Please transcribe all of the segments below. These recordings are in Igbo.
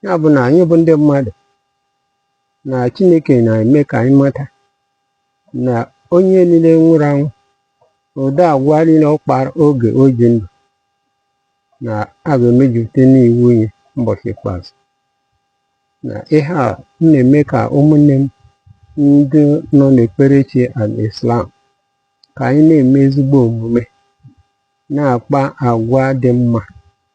ya bụ na anyị bụ ndị mmadụ na Chineke na-eme ka anyị mata na onye niile nwụrụ anwụ ụdị agwa niile ọ kpara oge o ji ndụ na a ga-emejupụta n'iwu nye ụbọchị ikpeazụ na ihe a na-eme ka ụmụnne m ndị nọ n'ekperechi al-Islam ka anyị na-eme ezigbo omume na-akpa agwa dị mma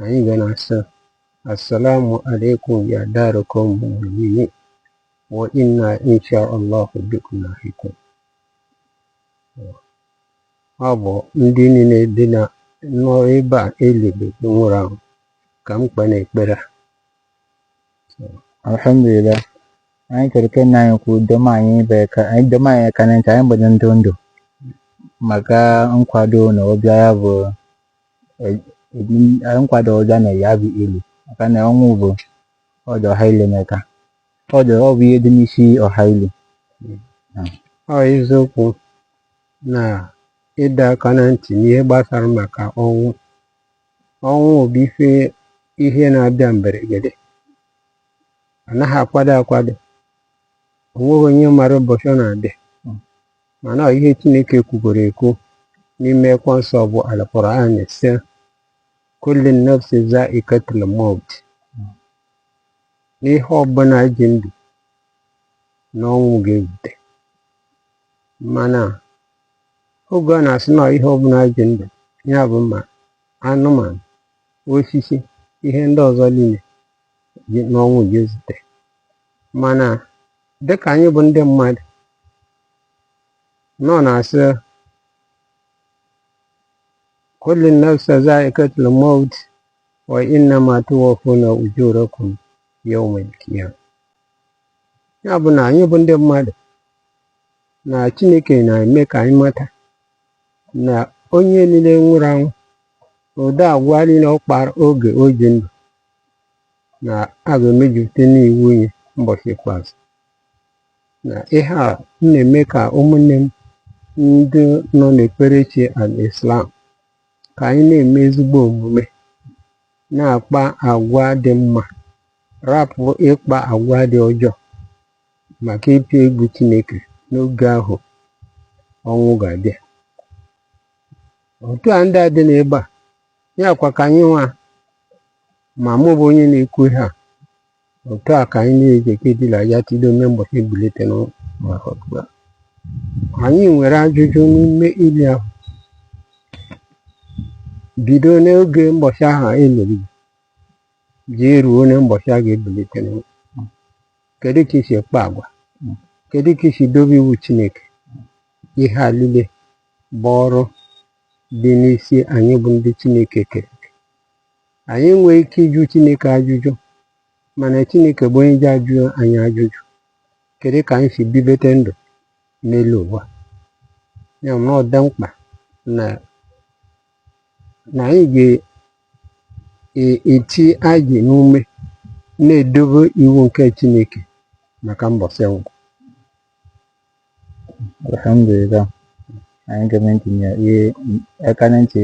anyị ga na-asị assalamu alaikum ya dara qawmin mu'minin wa inna insha Allah bikum lahiqun ọ bụ ndị niile dina nọ ebe a elebe nwụrụ anwụ ka m kpe n'ekpere a alhamdulillah anyị chọrọ ka nna anyị kwuo doma anyị ebere ka anyị dọma anyị aka na ntị anyị gbado ndụ ndụ maka nkwado na ọbịa ya bụ nkwado ọja na ya bụ ili maka na ọnwụ bụ ọja ọha ile meka ọja ọ bụ ihe dị n'isi ọha ile ọ eziokwu na ịdọ aka na ntị n'ihe gbasara maka ọnwụ ọnwụ bụ ife ihe na-abịa mberede anaghị akwado akwado o nweghị onye mara ụbọchị ọ na-abịa mana ọ ihe Chineke kwugoro ekwu n'ime akwụkwọ nsọ bụ Al-Qur'an sị kullu nafsin za'iqatul maut na ihe ọbụla ji ndụ na ọnwụ ga-ezute mana oge ọ na-asị na ihe ọbụla ji ndụ ya bụ ma anụmanụ osisi ihe ndị ọzọ niile na ọnwụ ga-ezute mana dịka anyị bụ ndị mmadụ na ọ na-asị kullu nafsin za'iqatul maut wa innama tuwaffuna ujurakum yawmal qiyamah ya bụ na anyị bụ ndị mmadụ na Chineke na-eme ka anyị mata na onye niile nwụrụ anwụ ụdị agwa niile ọ kpara oge o ji ndụ na a ga-emejupụta n'iwu nye mbọchị ikpeazụ na ihe a m na-eme ka ụmụnne m ndị nọ n'ekperechi al-Islam ka anyị na-eme ezigbo omume na-akpa agwa dị mma rapụ ịkpa agwa dị ọjọọ maka ịtụ egwu Chineke n'oge ahụ ọnwụ ga-abịa otu a ndị a dị n'ebe a ya kwa ka anyị nwa ma mụ bụ onye na-ekwu ihe a otu a ka anyị na-eji kedila ya tido mbọchị a ebilite na maka ọgbụgba anyị nwere ajụjụ n'ime ili ahụ bido n'oge mbọchị ahụ e mere jee ruo na mbọchị a ga-ebilite na kedu ka i si kpaa agwa kedu ka i si dobe iwu chineke ihe a niile bụ ọrụ dị n'isi anyị bụ ndị Chineke kere eke. Anyị enweghị ike ịjụ Chineke ajụjụ mana Chineke bụ onye ji ajụ anyị ajụjụ kedu ka anyị si bibete ndụ n'elu ụwa ya na ọ dị mkpa na na anyị ga-eti anya n'ume na-edobe iwu nke Chineke maka mbọsị ọnwụ alhamdulillah anyị gee ntị n'ihe aka na ntị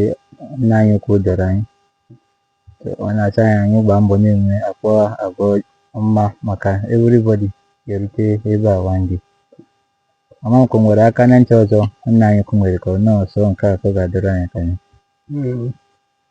nna anyị ukwu dọrọ anyị ọ na-acha anyị anyị gbaa mbọ na-akpa agwa ọma maka everybody ga-erute ebe a one day amaghị m ma o nwere aka na ntị ọzọ nna anyị ukwu nwere ka ọ nọọsụ nke a ka ọ ga-adọrọ anyị ka anyị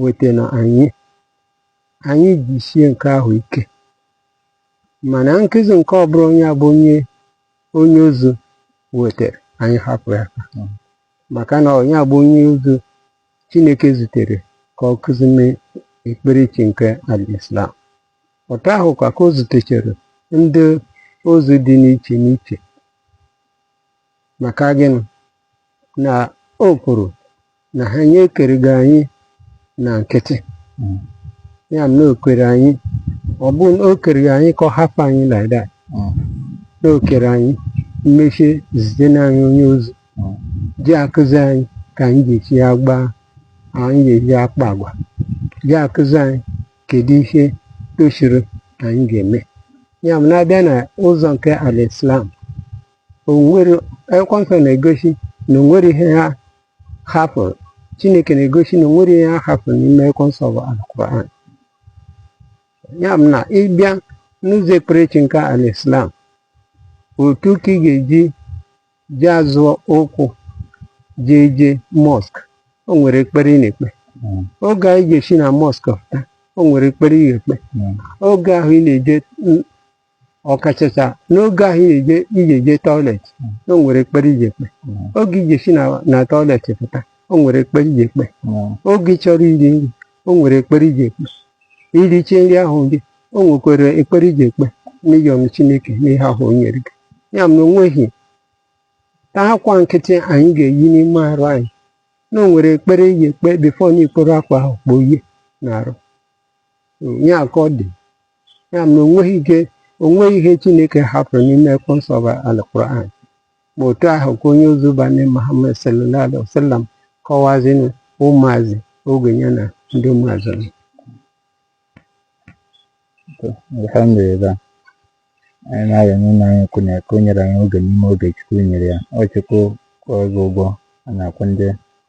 weta na anyị anyị jisie nke ahụ ike mana nkụzi nke ọ bụla onye abụ onye onye ozi wetara anyị hapụ ya aka Mm. maka na onye a bụ onye ozi chineke zitere ka ọ kụzi mee ekperechi nke al-islam otu ahụ kwa ka o zitechara ndị ozi dị n'iche n'iche maka gịnị na o kwuru na ha nye ekereghị anyị na nkịtị Mm. ya bụ na o kere anyị ọ bụ na o kereghị anyị ka ọ hapụ anyị like that Mm. na o kere anyị mechie zite na anyị onye ozi Mm. ji akụzi anyị ka anyị ga-esi agba anyị ga-eji akpa agwa ji akụzi anyị kedu ihe tosiri anyị ga-eme ya bụ na a bịa na ụzọ nke al islam o nwere akwụkwọ nsọ na-egosi na o nwere ihe ha hapụrụ chineke na-egosi na o nwere ihe a hapụrụ n'ime akwụkwọ nsọ bụ alquran ya bụ na ịbịa n'ụzọ ekperechi nke al islam otu ka ị ga-eji ji azọ ụkwụ ji eje mosque o nwere ekpere ị na-ekpe mm. oge ị ga-esi na mosque pụta o nwere ekpere ị na-ekpe mm. oge ahụ ị na-eje ọkachacha n'oge ahụ ị na-eje ije je toilet o nwere ekpere iji ekpe oge i je-esi na na toilet pụta o nwere ekpere iji ekpe oge ị chọrọ iri nri o nwere ekpere iji ekpe i riche nri ahụ gị o nwekwara ekpere iji ekpe n'ịyọ chineke n'ihe ahụ o nyere gị ya ma o nweghị ta akwa nkịtị anyị ga-eyi n'ime arụ anyị na o nwere ekpere iji ekpe before na i kporo akwa ahụ kpoyie n'arụ ya ka ọ dị ya na o nweghị ihe o nweghị ihe chineke hapụrụ n'ime akwụkwọ nsọ bụ alquran ma otu ahụ ka onye ozi be anyị muhammad sallallahu alaihi wasallam kọwaziri ụmụazụ oge ya na ndị ụmụazụ nọ. alhamdulillah anyị na-arịọ n'ụlọ anyị kwụ na ka o nyere anyị oge n'ime oge chukwu nyere ya ọ chukwu kwụọ gị ụgwọ a na-akwụ ndị